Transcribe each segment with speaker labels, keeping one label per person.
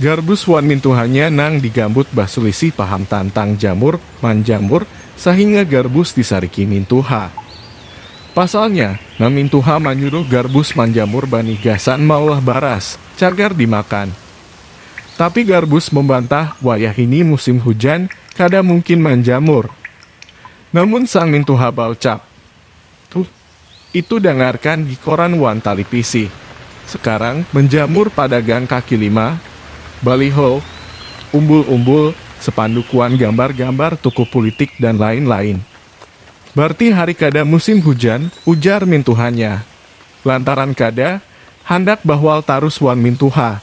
Speaker 1: Garbus wan mintuhanya nang digambut basulisih paham tantang jamur, manjamur, sahinga Garbus disariki mintuha. Pasalnya, nang mintuha manyuruh Garbus manjamur banih gasan maulah baras, cagar dimakan. Tapi Garbus membantah wayah ini musim hujan, kada mungkin manjamur. Namun sang mintuha baucap, Tuh, Itu dangarkan di koran wan talipisi. Sekarang menjamur pada gang kaki lima, baliho, umbul-umbul, sepanduk wan gambar-gambar tukuh pulitik dan lain-lain. Barti hari kada musim hujan, ujar mintuhanya. Lantaran kada, handak bahwal tarus wan mintuha.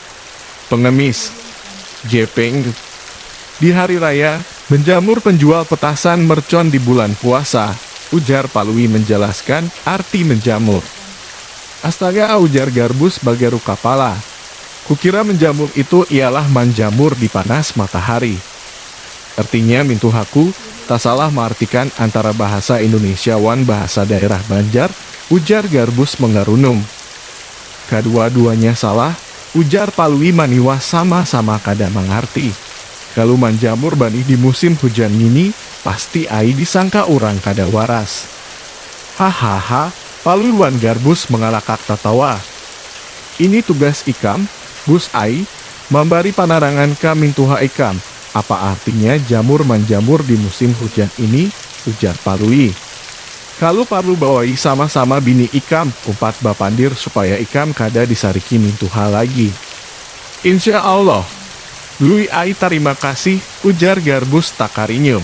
Speaker 1: Pengemis, Gepeng, Di hari raya, menjamur penjual petasan mercon di bulan puasa, ujar Palui menjelaskan arti menjamur. Astaga, ujar Garbus bagaruk kapala. Kukira menjamur itu ialah manjamur di panas matahari. Artinya mintuhaku tasalah maartikan antara bahasa Indonesia wan bahasa daerah Banjar, ujar Garbus mengarunum. Kadua-duanya salah, ujar Palui Maniwa sama-sama kada mangarti. Kalu manjamur banih di musim hujan ngini pasti ai disangka urang kada waras. Hahaha, Palui wan Garbus mangalakak tatawa. Ini tugas ikam, Bus ai, mambari panarangan ka mintuha ikam, apa artinya jamur-manjamur di musim hujan ini, ujar Palui. Kalu parlu bawai sama-sama bini ikam umpat bapandir supaya ikam kada disariki nintu hal lagi. Insya Allah. Lui ai tarima kasih, ujar Garbus takarinyum.